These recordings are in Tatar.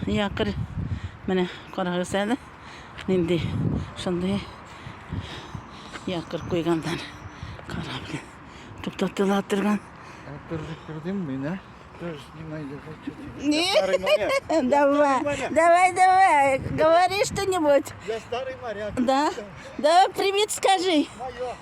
Якорь. Менә карагыз әле. Нинди шундый якорь куйганнар. Карап. Туктатыла торган. Кырдым мина. Давай, давай, давай, говори что-нибудь. Я старый моряк. Да? Давай привет скажи.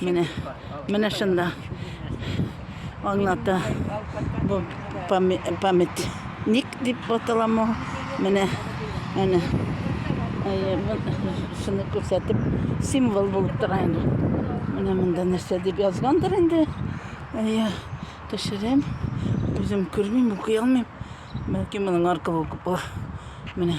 Менә, менә шунда аңлата. Бу памятник дип аталама. Менә, әнә. Әйе, шуны күрсәтеп, символ булып тора инде. Менә монда нәрсә дип язгандыр инде. Әйе, төшерәм. Үзем күрмим, укый алмыйм. Бәлки моның аркылы укып була. Менә.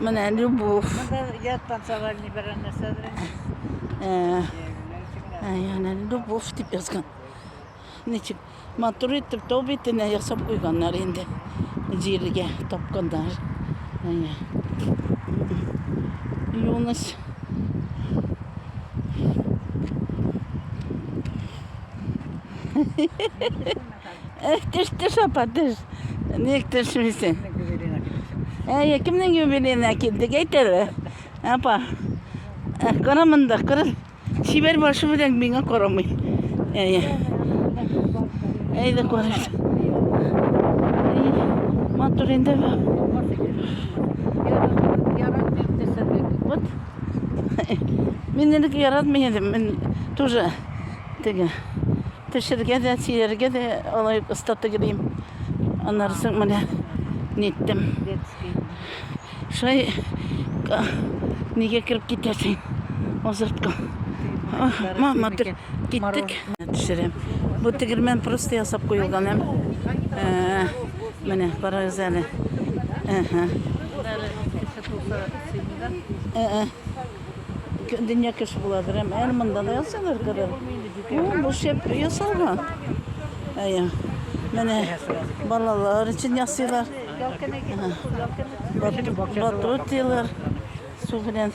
Менә любов. Монда яд танцевальный берәр нәрсәдер. Э, ә, яна любов дип язган. Ничек матур итеп тау битенә ясап куйганнар инде. Җиргә тапканнар. Әйе. Юныс. Э, Төште шапа, төш. Ник төшмисең? Әйе, кемнең юбилейна килдек, әйт әле. Апа. Э, Кара монда, кара. Чибәр башы белән миңа карамый. Әйе. Әйдә караш. Матур инде бу. Вот. Мин элек яратмый идем, мин тоже Теге пешергә дә, сөяргә дә алай оста тегелим. Аннары соң менә ниттем. Шулай нигә кереп китәсең? Озыртка. Мама, киттек. Төшерәм. Бу тегермән просто ясап куелган һәм э, менә карагыз әле. Әһә. Э, э. Дөнья кеше буладыр, әм әле монда да ясалар кадәр. Бу шәп ясалган. Әйе. Менә балалар өчен ясыйлар. Батрутилар су белән.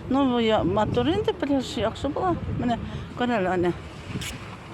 Ну, бу матур инде, пляж яхшы була. Менә күрәләр аны.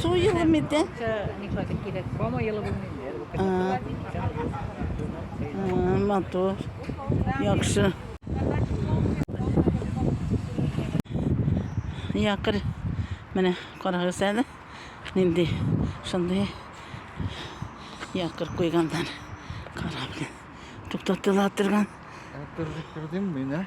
Су елы миде? Матур. Яхшы. Якыр. Менә карагыз әле. Нинди шундый якыр куйганнар. Карап. Туктатыла торган. Кырдым мин, ә?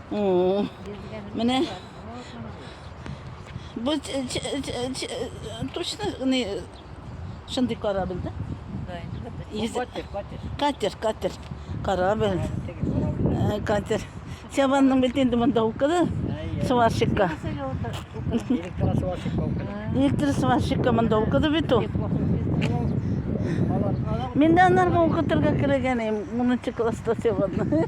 Oo. Менә бу точно не шундый корабль, да? Катер, катер. Катер, катер. Корабль. Э, катер. Сябанның бит инде монда укыды. Сварщикка. Электро сварщикка укыды. Электро сварщикка монда укыды бит ул. Мен де анарга укытырга кирәгән, 10 класста сябанны.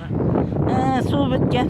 Ә, су беткән.